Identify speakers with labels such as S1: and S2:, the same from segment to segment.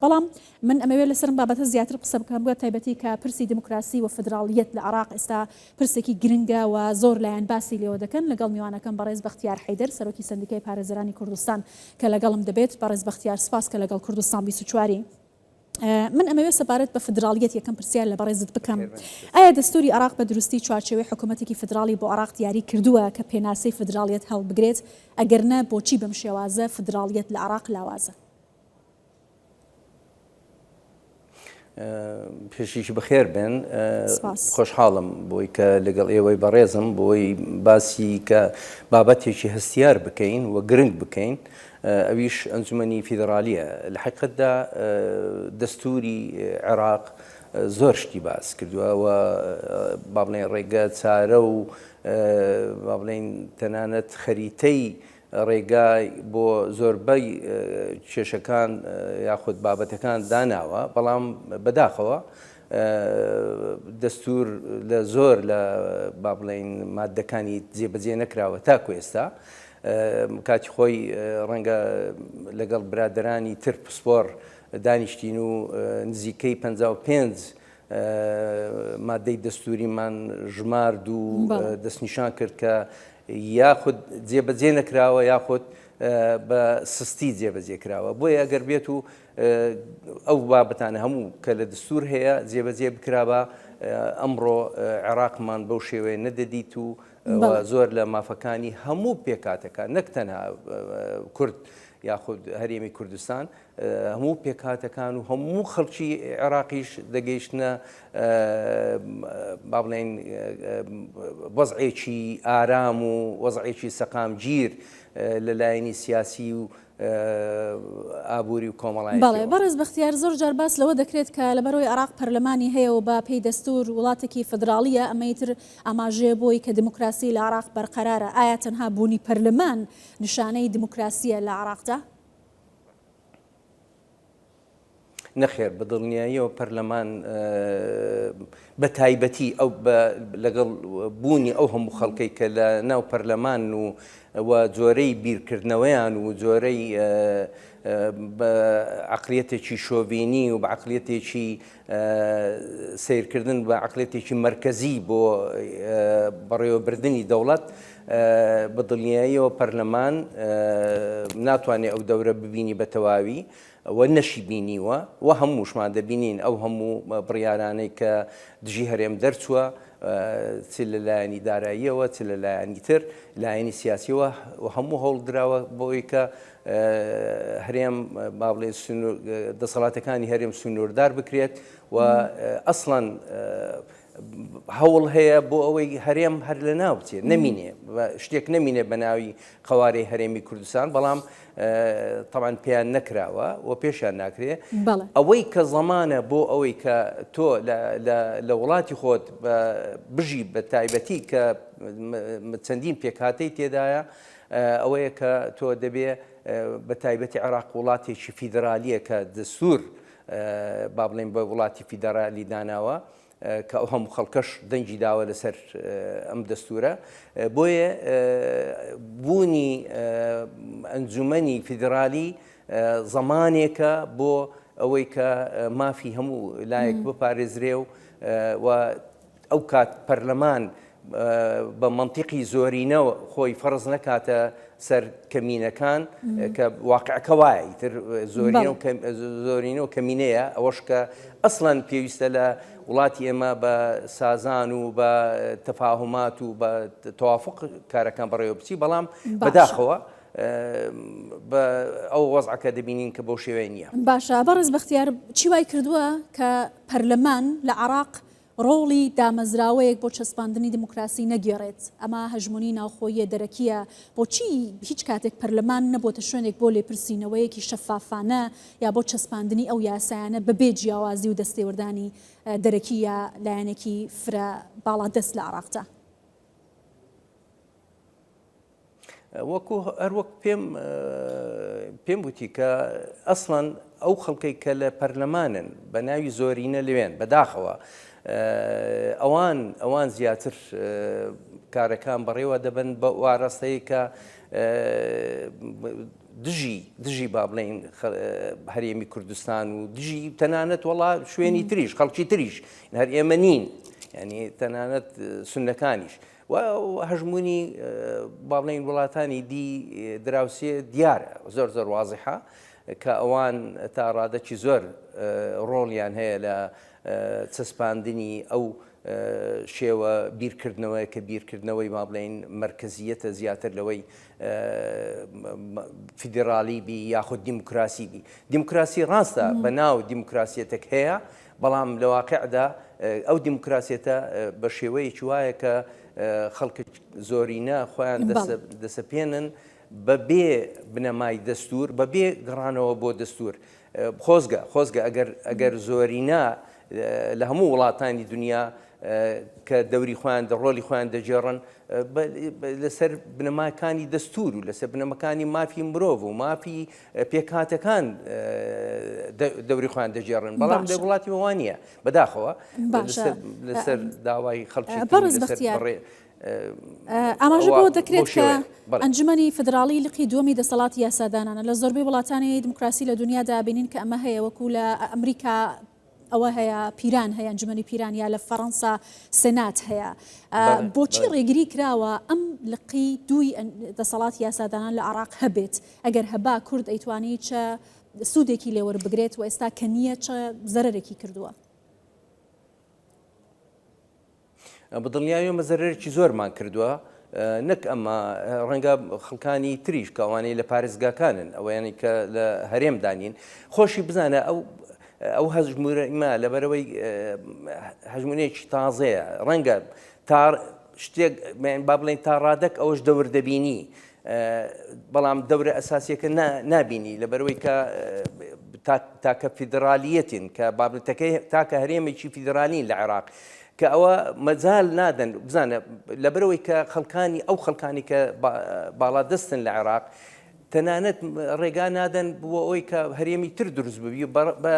S1: بەڵام من ئەمەوێت لەسەرم بابەتە زیاتر قسە بکەم بە تایبەتی کە پرسی دیموکراسی و فدراڵیەت لە عراق ئێستا پرسێکی گرنگە و زۆر لایەن باسی لێوە دەکەن لەگەڵ میوانەکەم بەڕێز بەختیار حەیدەر سەرۆکی سەندیکای پارێزەرانی کوردستان کە لەگەڵم دەبێت بەڕێز بەختیار سپاس کە لەگەڵ کوردستان بیست و چوار ی من ئەمەوێت سەبارەت بە فدراڵیەت یەکەم پرسیار لە بەڕێزت بکەم ئایا دەستوری عراق بە دروستی چوارچێوەی حکوومەتێکی فدراڵی بۆ عراق دیاری کردووە کە پێناسەی فدراڵیەت هەڵبگرێت ئەگەرنا بۆچی بەم شێوازە فدراڵیەت لە عراق لاوازە؟
S2: پێشیش بەخێر بێن خۆشحاڵم بۆی کە لەگەڵ ئێوەی بەڕێزم بۆی باسی کە بابەتێکی هەستیار بکەین و گرنگ بکەین ئەویش ئەنجومنی فیدراالیە لە حقتدا دەستوری عێراق زۆر شتی باس کردووە و با بڵێن ڕێگە چارە و با بڵین تەنانەت خەریتەی ڕێگای بۆ زۆربەی کێشەکان یاخود بابەتەکان داناوە، بەڵام بەداخەوە دەستوور لە زۆر لە با بڵێین ماددەکانی جێبەجێ نەکراوە تاکو ئێستا. کاتی خۆی ڕەنگە لەگەڵ برادەرانی تر پسپۆڕ دانیشتین و نزیکەی پەنجا و پێنج مادەی دەستووریمان ژمارد و دەستنیشان کرد کە یاخود جێبەجێ نەکراوە یاخود بە سستی جێبەجێ کراوە بۆیە ئەگەر بێت و ئەو بابەتانە هەموو کە لە دەستور هەیە جێبەجێ بکرابە ئەمڕۆ عێراقمان بەو شێوەیە نەدەدیت و زۆر لە مافەکانی هەموو پێکاتەکە نەک تەنها کورد یاخود هەرێمی کوردستان هەموو پێکهاتەکان و هەموو خەڵکی عێراقیش دەگەیشتنە با بڵێین وەزعێکی ئارام و وەزعێکی سەقامگیر لە لایەنی سیاسی و ئابووری و کۆمەڵایەتی. بەڵێ بەڕێز بەختیار،
S1: زۆر جار باس لەوە دەکرێت کە لەبەرئەوەی عێراق پەرلەمانی هەیە و بە پێی دەستوور وڵاتێکی فیدراڵییە، ئەمەی تر ئاماژەیە بۆی کە دیموکراسی لە عێراق بەرقەرارە، ئایا تەنها بوونی پەرلەمان نیشانەی دیموکراسییە لە عێراقدا؟
S2: نەخێر بە دڵنیاییەوە پەرلەمان بە تایبەتی ئەو لەگەڵ بوونی ئەو هەموو خەڵکەی کە لە ناو پەرلەمان و و جۆرەی بیرکردنەوەیان و جۆرەی عقلیەتێکی شۆڤینی و بە عقلیەتێکی سەیرکردن بە عەقڵێتێکی مەرکەزی بۆ بەڕێوەبردنی دەوڵەت، بە دڵنیاییەوە پەرلەمان ناتوانێ ئەو دەورە ببینی بە تەواوی و نەشی بینیوە و هەمووشمان دەبینین ئەو هەموو بڕیارانەی کە دژی هەرێم دەرچووە چ لە لایەنی داراییەوە چ لە لایەنی تر لایەنی سیاسیەوە و هەموو هەوڵدراوە بۆی کە هەرێم با بڵێ دەسەڵاتەکانی هەرێم سنووردار بکرێت و ئەسڵەن هەوڵ هەیە بۆ ئەوەی هەرێم هەر لە ناو بچێت نەمینێ شتێک نەمینێ بە ناوی قوارەی هەرێمی کوردستان بەڵام تەوان پێیان نەکراوە و پێشیان ناکرێ ئەوەی کە زەمانە بۆ ئەوەی کە تۆ لە وڵاتی خۆت بژی بە تایبەتی کە چەندین پێکاتەی تێدایە ئەوەیە کە تۆ دەبێ بە تایبەتی عێراق وڵاتێکی فیدرالییە کە دەستوور با بڵێین بە وڵاتی فیدرالی داناوە کە ئەو هەموو خەڵکەش دەنگی داوە لەسەر ئەم دەستورە بۆیە بوونی ئەنجومەنی فیدرالی زەمانێکە بۆ ئەوەی کە مافی هەموو لایەک بپارێزرێ و ئەو کات پەرلەمان بە مەنتیقی زۆرینەوە خۆی فەرز نەکاتە سەر کەمینەکان کە واقعەکە وایە ئیتر زۆرینە و کەمینەیە ئەوەش کە ئەسڵەن پێویستە لە وڵاتی ئێمە بە سازان و بە تەفاهمات و بە توافق کارەکان بەڕێوە بچی بەڵام بەداخەوە بە ئەو وەزعەکە دەبینین کە بۆ شێوێن نیە باشە بەڕز بەختیار
S1: چی وای کردووە کە پەرلەمان لە عراق ڕۆڵی دامەزراوەیەک بۆ چەسپاندنی دیموکراسی نەگێڕێت، ئەمە هەژموونی ناوخۆییە دەرەکییە، بۆچی هیچ کاتێک پەرلەمان نەبووەتە شوێنێک بۆ لێپرسینەوەیەکی شەفافانە یا بۆ چەسپاندنی ئەو یاسایانە بەبێ جیاوازی و دەستێوەردانی دەرەکی یا لایەنێکی فرە باڵادەست لە عێراقدا؟
S2: وەکو هەروەک پێم پێم وتی کە ئەسڵەن ئەو خەڵکەی کە لە پەرلەمانن بە ناوی زۆرینە لەوێن بەداخەوە ئەوان ئەوان زیاتر کارەکان بەڕێوە دەبن بە واراستەیە کە دژی دژی با بڵین هەرێمی کوردستان و دژی تەنانەت وڵا شوێنی تریش خەڵکی تریش هەر ئێمە نین ینی تەنانەت سنەکانیش و هەژموونی با بڵێین وڵاتانی دی دراوسێ دیارە زۆر زۆر وازحە کە ئەوان تا ڕادەکی زۆر ڕۆڵیان هەیە لە چەسپاندنی ئەو شێوە بیرکردنەوەی کە بیرکردنەوەی با بڵێین مرکزیەتە زیاتر لەوەی فیدراڵی بی یاخود دیموکراسی بی دیموکراسی ڕاستە بە ناو دیموکراسیەتێک هەیە بەڵام لە واقیعدا ئەو دیموکراسیەتە بە شێوەیەکی وایە کە خەڵک زۆرینە خۆیان دەسەپێنن بە بێ بنەمای دەستور بە بێ گەڕانەوە بۆ دەستور خۆزگە خۆزگە ئەگەر ئەگەر زۆرینە لە هەموو وڵاتانی دنیا کە دەوری خۆیان دە ڕۆلی خۆیان دەجێڕن لەسەر بنەماکانی دەستور و لەسەر بنەمەکانی مافی مرۆڤ و مافی پێکهاتەکان دەوری خۆیان دەگێڕن بەڵام لە وڵاتی وەوا نییە بەداخەوە لەسەر داوای خەڵکی
S1: ئاماژە بۆ دەکرێت کە ئەنجومی فدراڵی لقی دووەمی دەسەڵاتی یاسادانانە لە زۆربەی وڵاتانی دیموکراسی لە دنیادا بینین کە ئەمە هەیە وەکو لە ئەمریکا ئەوە هەیە پیران هەیە ئەنجومەنی پیران یا لە فەڕەنسا سنات هەیە بۆچی ڕێگری کراوە ئەم لقی دووی دەسەڵات یاسادانان لە عراق هەبێت ئەگەر هەبا کورد ئەیتوانی چە سوودێکی لێوەر بگرێت و ئێستا کە نییە چە زەرێکی کردووە
S2: بەدڵنیایەوە زەرەرێکی زۆرمان کردووە، نەک ئەمە ڕەنگە خەڵکانی تریش کە ئەوانەی لە پارێزگاکانن ئەوەیانی کە لە هەرێمدا نین خۆشی بزانە ئەو ئەو هەژمورەما لەبەرەوەی هەژمونێکی تازەیە ڕەنگە تا شتێک با بڵێن تا ڕادەک ئەوەش دەور دەبینی بەڵام دەورە ئەساسیەکە نابینی لەبەرەوەی کە تاکە فیدرالیەتین کە بابەتەکەی تاکە هەرێمێکی فیدرالین لە عێراق کە ئەوە مەجال نادەن بزانە لەبەرەوەی کە خەڵکانی ئەو خەڵکانی کە باڵا دەستن لە عێراق تەنانەت ڕێگا نادەن بۆ ئەوی کە هەرێمی تر دروست ببی بە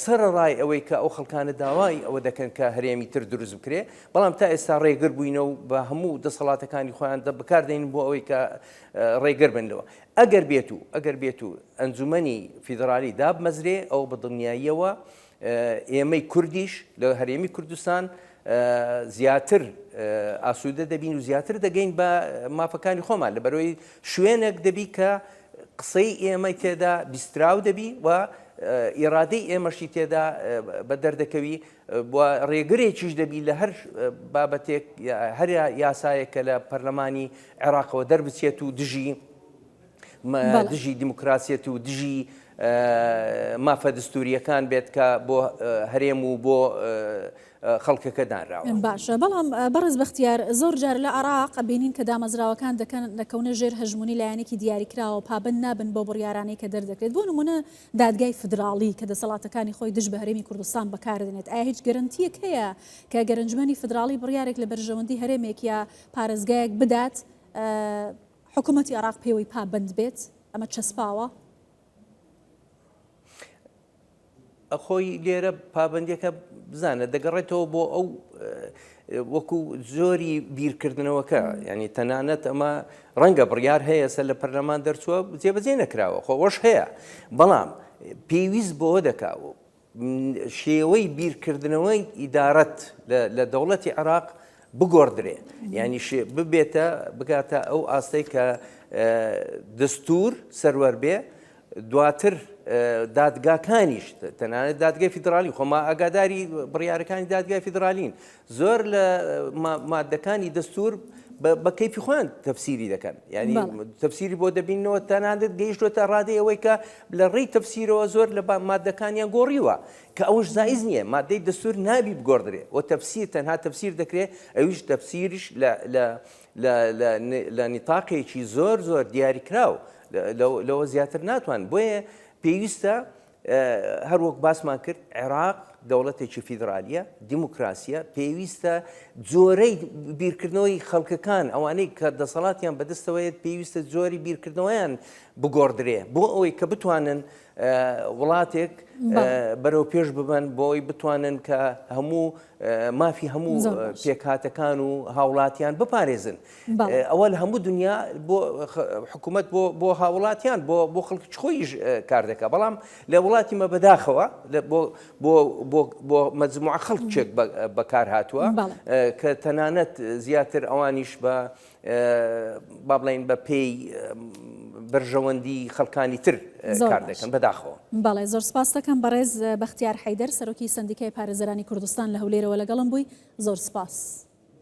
S2: سەرڕای ئەوەی کە ئەو خەڵکانە داوای ئەوە دەکەن کە هەرێمی تر دروست بکرێ بەڵام تا ئێستا ڕێگر بووینە و بە هەموو دەسەڵاتەکانی خۆیان دە بکار دێنین بۆ ئەوەی کە ڕێگر بن لەوە ئەگەر بێت و ئەگەر بێت و ئەنجومەنی فیدرالی دابمەزرێ ئەو بە دڵنیاییەوە ئێمەی کوردیش لە هەرێمی کوردستان زیاتر ئاسوودە دەبین و زیاتر دەگەین بە مافەکانی خۆمان لە بەرەوەی شوێنێک دەبی کە قسەی ئێمەی تێدا بیستراو دەبی و ئێرادەی ئێمەشی تێدا بە دەردەکەوی و رێگرێکیش دەبی لە هەر بابەتێک هەر یاسایەک کە لە پەرلەمانی عێراقەوە دەربچێت و دژی دژی دیموکراسیەت و دژی مافە دەستوریەکان بێت کە بۆ هەرێم و بۆ خەڵکەکە دانراوە باشە بەڵام
S1: بەڕز بەختیار زۆر جار لە عراق بینین کە دامەزراوەکان دەکەن دەکەونە ژێر هەژمونی لایەنێکی دیاریکراوە پابند نابن بۆ بڕیارانەی کە دەردەکرێت بۆ نمونە دادگای فیدراڵی کە دەسەڵاتەکانی خۆی دژ بە هەرێمی کوردستان بەکاردێنێت، ئایا هیچ گەرەنتییەک هەیە کە گەرەنجمەنی فیدراڵی بڕیارێک لە بەرژەوەندی هەرێمێک یا پارێزگایەک بدات حکوومەتی عێراق پێوەی پابەند بێت؟ ئەمە چەسپاوە؟
S2: خۆی لێرە پابندەکە بزانە دەگەڕێتەوە بۆ ئەو وەکو جۆری بیرکردنەوەکە ینی تەنانەت ئەمە ڕەنگە بڕیار هەیە سەر لە پەرلەمان دەرچووە جێبەجێ نەکراوە خۆش هەیە بەڵام پێویست بۆ دەکاوە شێوەی بیرکردنەوەی ئیدارەت لە دەوڵەتی عراق بگۆڕدرێ ینی ببێتە بگاتە ئەو ئاستەی کە دەستور سەروەر بێ دواتر دادگاکانیش تەنانەت دادگای فیدراالی خۆما ئاگاداری بڕیارەکانی دادگای فیدراالین زۆر لە مادەکانی دەستور بە کەیفی خۆیان تەفسیری دەکەن ینی تەفسیری بۆ دەبینەوە تەنانەت گەیشتوە تا ڕادەی ئەوەی کە لە ڕێی تەفسیرەوە زۆر لە مادەکانیان گۆڕیوە کە ئەوش زایز نییە مادەی دەستور نابی بگۆڕدرێ و تەفسیر تەنها تەفسیر دەکرێت ئەوش تەفسیرش لە لە نیتاقێکی زۆر زۆر دیاریکراو لەوە زیاتر ناتوان بۆیە پێویستە هەر وەک باسمان کرد عێراق دەوڵەتێکی فیدراالیە دیموکراسیە پێویستە جۆرەی بیرکردنەوەی خەڵکەکان ئەوانەی کە دەسەڵاتیان بەدەستەوەیت پێویستە جۆری بیرکردنەوەیان بگۆڕدرێ بۆ ئەوەی کە بتوانن وڵاتێک بەرەو پێش ببەن بۆ ئەوی بتوانن کە هەموو مافی هەموو پێکهاتەکان و هاوڵاتیان بپارێزن ئەوە لە هەموو دنیا بۆ حکوومەت بۆ هاوڵاتیان بۆ بۆ خەڵکی خۆیش کار دەکە بەڵام لە وڵاتی مە بەداخەوە بۆ مەزموع خەڵکێک بەکار هاتووە کە تەنانەت زیاتر ئەوانیش بە با بڵێین بە پێی بەرژەوەندی خەڵکانی تر کار دەکەن بەداخەوە. بەڵێ زۆر سپاستەکەم
S1: بەڕێز بەختیار حەیدەر سەرۆکی سەندیکای پارێزەرانی کوردستان لە هەولێرەوە لەگەڵم بووی زۆر سپاس.